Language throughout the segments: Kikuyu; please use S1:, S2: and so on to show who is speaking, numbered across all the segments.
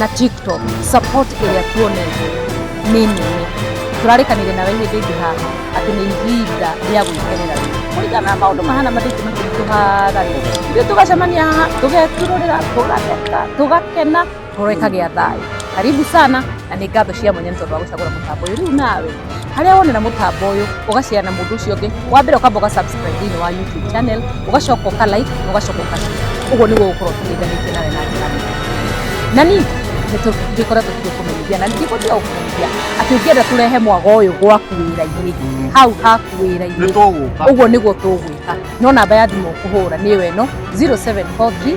S1: na tiktok support ĩrĩa tuonete nĩ nene tũrarĩkanire nawe hĩndĩ ĩngĩ haha atĩ nĩ ihinda rĩa gwĩkenera rĩu kũringana na maũndũ mahana mathĩngĩ makĩritũhaga rĩ ithuĩ tũgacemania haha tũgeturũrĩra tũgatheka tũgakena tũreka gĩa thayũ karibu sana na nĩ ngatho cia mwanya nĩ tondũ wa gũcagũra mũtambo ũyũ rĩu nawe harĩa wonera mũtambo ũyũ ũgacare na mũndũ ũcio ũngĩ wa mbere ũkamba ũgasubscribe thĩinĩ wa youtube channel ũgacoka ũka like na ũgacoka ũka share. ũguo nĩguo gũkorwo tũteithanĩtie nawe na njĩra nene na ningĩ nĩtũgĩkoretwo tũgĩkũmenyithia na ningĩ gũtiga gũkũmenyithia atĩ ũngĩenda tũrehe mwago ũyũ gwaku wĩra-inĩ hau haku wĩra-inĩ nĩ tũgũka ũguo nĩguo tũgwĩka no namba ya thimũ ũkũhũra nĩyo ĩno 0743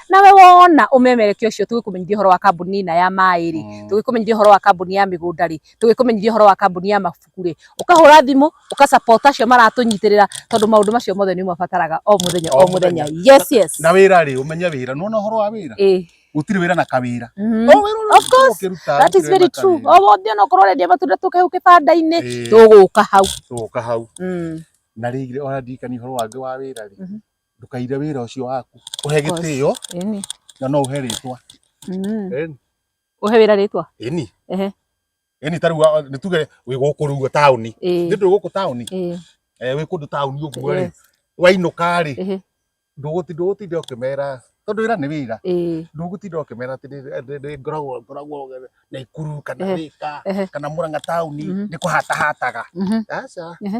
S1: nawe wona umemerekia ucio tugikumenyithia horo wa kambuni ina ya mai ri mm. tugikumenyithia horo wa kambuni ya migunda ri tugikumenyithia horo wa kambuni ya mabuku ri ukahura thimu ukasapota acio maratunyitirira tondu maundu macio mothe ni mabataraga o muthenya o muthenya yes yes na wira ri umenye
S2: wira nona horo wa wira eh gutiri wira na kawira mm-hmm. oh, of
S1: course that is very true o oh, wothe ona korwo rendia matunda tukehu kibanda-ini eh. tuguka hau tuguka hau mm. na
S2: rĩngĩ ona ndirikani horo wange wa wira ri mm-hmm. ndũkaire wĩra ũcio waku ũhe gĩtĩo ĩni na no ũhe rĩtwa mm. Ĩni.
S1: ũhe wĩra rĩtwa ĩni Ehe.
S2: ĩni tarĩu wa- nĩ tuge wĩ gũkũ rĩu ũguo taũni Ĩĩ, nĩ ndũ gũkũ taũni ĩĩ, Eh, wĩ kũndũ taũni ũguo rĩ yes, wainũka rĩ ĩhĩ, ndũgũti- ndũgũtinda ũkĩmera tondũ wĩra nĩ wĩra ĩĩ, ndũgũtinda ũkĩmera atĩ nĩ- nĩ- nĩ ngoragwo ngoragwo naikuru kana Ehe. thika Ehe. kana mũranga taũni Mhm. nĩ kũhatahataga mhm, aca Ehe.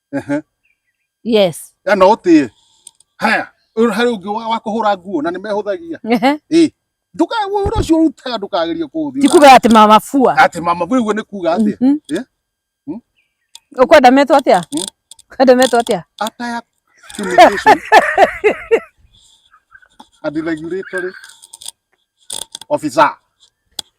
S1: Ehe. yes Ya no ũtĩe.
S2: Haya, ũyũ harĩ ũngĩ wa wa kũhũra nguo na nĩ mehũthagia. Ehe. Ĩ. Ndũkae ũhoro ũcio ũrutaga ndũkagerie kũũthiĩ. tikuga ati mama fua
S1: Atĩ mama vĩ ũguo nĩ
S2: kuuga atĩ. Mhm. Eh?
S1: ukwenda metwo atia Mm. ukwenda metwo atia Ataya
S2: communication. And regulatory officer.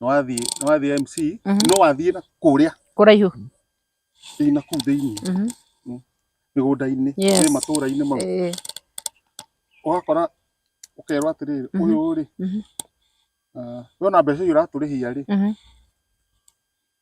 S2: nĩwathiĩ nĩwathiĩ MC Mhm. no wathiĩ na kũrĩa kũraihu
S1: thĩinĩ
S2: na kũu thĩinĩ Mhm. mĩgũnda-inĩ Yes. nĩ matũũra-inĩ mau Eh, ũgakora ũkerwo atĩrĩrĩ Mhm. ũyũ rĩ Mhm. ah, wona mbeca icio ũratũrĩhia rĩ mhm.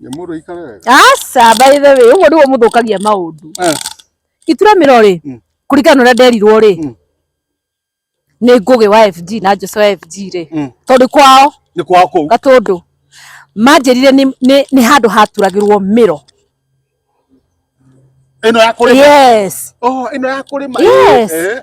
S2: Nyamũrũ ikare wega. Aca by the
S1: way, ũguo nĩguo mũthũkagia maũndũ. Eh. Ituremĩro rĩ, mm. kũringana na ũrĩa nderirwo rĩ, mm. nĩ ngũgĩ wa FG na Jose wa FG rĩ, mm. tondũ kwao nĩ kwao kũu Gatũndũ manjĩrire nĩ handũ haturagĩrwo mĩro
S2: ĩno ya kũrĩma yes oh ĩno
S1: ya kũrĩma
S2: yes
S1: eh.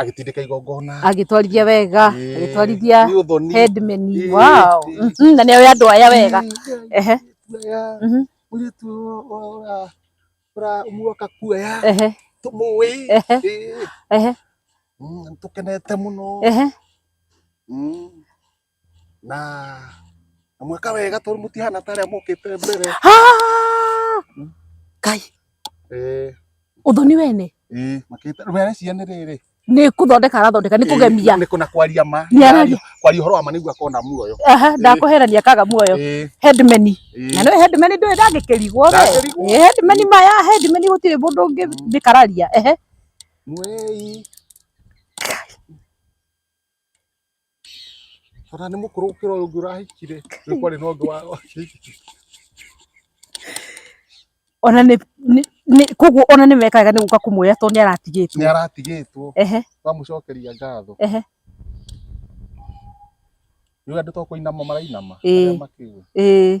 S2: agĩtindĩka igongona agĩtwarithia wega
S1: Ĩĩ. agĩtwarithia Nĩ ũthoni. headman Ĩĩ. wow Ĩĩ. Mhm, na nĩ oĩ andũ aya wega ehe Kuoya. Mhm.
S2: Mũirĩtu ũyũ- ũyũ ũra- ũra- ũmuoka kuoya ehe tũmũĩ Ehe. Ĩĩ.
S1: ehe Mm,
S2: nĩtũkenete mũno ehe Mm. na na mwĩka wega tondũ mũtihana ta arĩa mũkĩte mbere Ah! kai Eh, uthoni wene eh, makĩte rĩu areciria nĩ rĩrĩ nĩ kũthondeka arathondeka nĩ kũgemia nĩ kũna kwaria ma Nĩ araria. kwaria ũhoro wa ma nĩguo akona muoyo aha ndakũherania akaga muoyo Eh, headman eh. na nĩ headman ndũĩ ndangĩkĩrigwo we Ndangĩrigwo. Nĩ headman maya headman gũtirĩ mũndũ ũngĩ ndĩkararia ehe Mwei. Ona nĩ mũkũrũ gũkĩra ũyũ ũngĩ ũrahikire. Rĩu kwarĩ na ũngĩ wa- wakĩhikire. ona nĩ nĩ- nĩ- koguo ona nĩ mekaga nĩ gũka kũmwoya tondũ nĩ aratigĩtwo Nĩ aratigĩtwo. ehe Twamũcokeria ngatho. ehe Rĩu andũ to kũinama marainama. Ĩĩ. Arĩa makĩũĩ. ĩĩ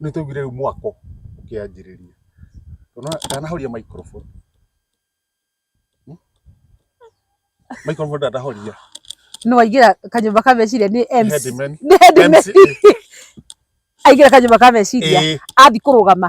S2: Nĩ twaiguire rĩu mwako ũkĩanjĩrĩria. Ndanahoria microphone. Microphone ndanahoria. Nĩ waingĩra kanyũmba ka meciria nĩ MC. Nĩ headman. Aingĩra kanyũmba ka meciria athiĩ kũrũgama.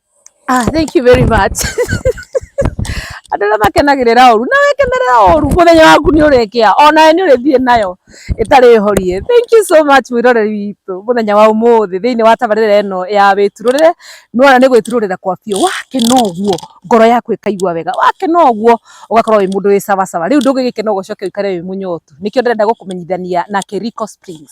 S2: Ah, thank you very much. Andũ arĩa makenagĩrĩra ũru na wekenerera ũru mũthenya waku nĩ ũrekĩa onawe nĩ ũrĩthiĩ nayo ĩtarĩ horie. Thank you so much mwĩroreri witũ mũthenya wa ũmũthĩ thĩinĩ wa tabarĩra ĩno ya wĩturũrĩre nĩwona nĩ gwĩturũrĩra kwa biũ wakena ũguo ngoro yaku ĩkaigua wega wakena ũguo ũgakorwo wĩ mũndũ wĩ sawasawa rĩu ndũngĩgĩkena ũguo ũcoke ũikare wĩ mũnyotu nĩkĩo ndĩrenda gũkũmenyithania na Kericho Springs.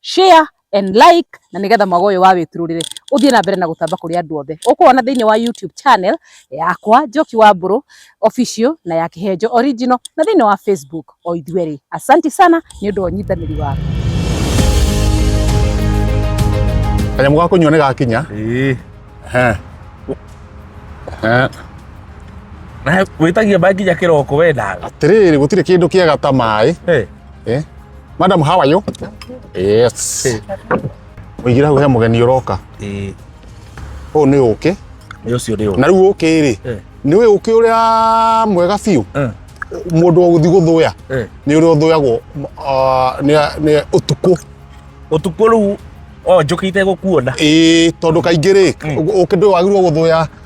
S2: share and like na nigetha mwago uyu wa witururire uthie na mbere na gutamba kuri andu othe ukuona thiini wa YouTube channel yakwa Njoki wa Mburu official na ya Kihenjo original na thiini wa Facebook o ithueri asanti sana ni undu wa nyitaniri waku kanyamu ga kunyua ni gakinya eh eh
S3: na witagia bangi ya kiroko we nawe atiriri gutire kindu
S2: kiega ta mai eh Eh? Madam, how are you? Yes. Ũigĩra hau he mũgeni ũroka. Ĩĩ. Ũyũ nĩ ũkĩ. Nĩ ũcio nĩ ũkĩ. Na
S3: rĩu ũkĩ rĩ, Eh.
S2: nĩ ũyũ ũkĩ ũrĩa mwega biũ. Eh. Mũndũ wa gũthiĩ gũthũya Eh. nĩ ũrĩa ũthũyagwo ah, nĩ- nĩ ũtukũ. Ũtukũ
S3: rĩu o njũkĩ itegũkuona. Ĩĩ, tondũ kaingĩ
S2: rĩ, ũkĩ ndũwagĩrĩirwo gũthũya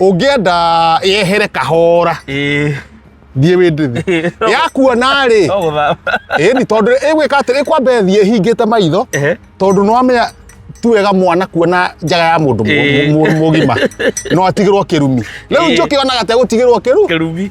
S2: ũngĩenda yehere kahora ĩĩ thiĩ wĩndĩthi yakuona rĩ no gũthama ĩni tondũ ĩgwĩka atĩrĩ ĩkwamba ĩthiĩ ĩhingĩte maitho Ehe. tondũ nĩwamenya ti wega mwana kuona njaga ya mũndũ Ĩĩ. mũgima no atigĩrwo kĩrumi rĩu Ĩĩ. njũkĩ onaga tegũtigĩrwo kĩru kĩrumi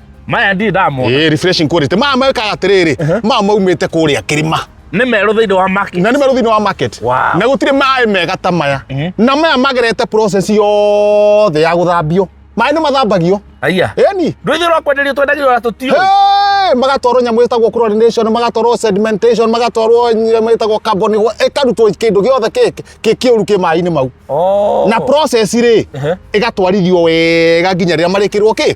S2: maya ndirĩ
S3: ndamona eh refreshing quality ma
S2: ma kaga tiriri ma ma umite kuria kirima nĩ merũ thĩinĩ wa
S3: market na nĩ maruthinĩ wa market
S2: Wow. na gũtirĩ maĩ mega ta maya Mhm. na maya magerete process yothe ya gũthambio maĩ nĩ mathambagio aiya eni
S3: ndwĩthĩ rwa
S2: kwenderio twendagio
S3: na tũtiũ Hey, magatwarwo
S2: nyamå ĩtagwo chlorination magatwarwo sedimentation magatwarwo nyamå ĩtagwo carbon ĩkarutwo kĩndũ gĩothe kĩ- kĩ- kĩũru kĩ maĩ-inĩ mau na process rĩ Ehe. ĩgatwarithio wega nginya rĩrĩa marĩkĩrwo kĩ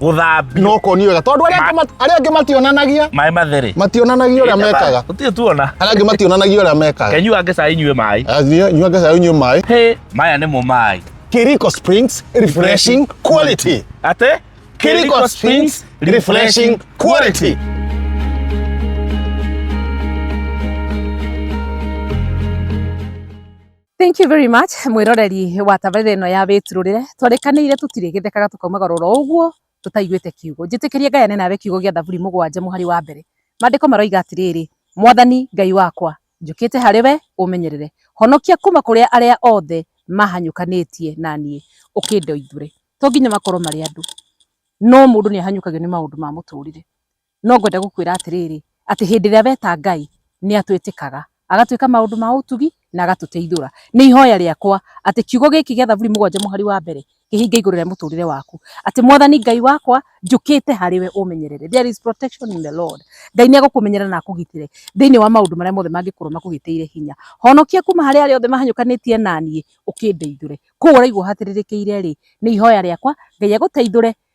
S2: gũthambio no
S3: ko nĩ wega tondũ
S2: arĩa angĩ mat- arĩa angĩ mationanagia maĩ matherĩ
S3: mationanagia ũrĩa mekaga
S2: gũtirĩ tuona arĩa angĩ
S3: mationanagia ũrĩa
S2: mekaga kenyua ngĩca inyue maĩ
S3: Eh, nyua- nyua ngesa yau nyua
S2: maĩ Hĩ, maya nĩmo
S3: maĩ Kiriko Springs
S2: refreshing quality atĩ
S3: Kiriko Springs
S2: refreshing quality
S1: Thank you very much mwiroreri wa tabarĩra ĩno ya wĩturũrĩre twarĩkanĩire tũtirĩgĩthekaga tũkaumaga roro ũguo tũtaiguĩte kiugo njĩtĩkĩrie Ngai ane nawe kiugo gĩa Thaburi mũgwanja mũhari wa mbere maandĩko maroiga atĩrĩrĩ mwathani Ngai wakwa njũkĩte harĩ we ũmenyerere honokia kuma kũrĩa arĩa othe mahanyũkanĩtie na niĩ ũkĩndoithũre to nginya makorwo marĩ andũ no mũndũ nĩ ahanyũkagio nĩ maũndũ ma mũtũrĩre no ngwenda gũkwĩra atĩrĩrĩ, atĩ hĩndĩ ĩrĩa weta Ngai nĩ atwĩtĩkaga, agatwĩka maũndũ ma ũtugi na agatũteithũra. Nĩ ihoya rĩakwa atĩ kiugo gĩkĩ gĩa Thaburi mũgwanja mũhari wa mbere kĩhinge igũrũ rĩa mũtũrĩre waku, atĩ Mwathani Ngai wakwa njũkĩte harĩ we ũmenyerere. There is protection in the Lord. Ngai nĩ egũkũmenyerera na akũgitĩre thĩinĩ wa maũndũ marĩa mothe mangĩkorwo makũgĩteire hinya. Honokia kuma harĩ arĩa othe mahanyũkanĩtie na niĩ ũkĩndeithũre. Kũu ũraigua ũhatĩrĩrĩkĩire rĩ, nĩ ihoya rĩakwa Ngai agũteithũre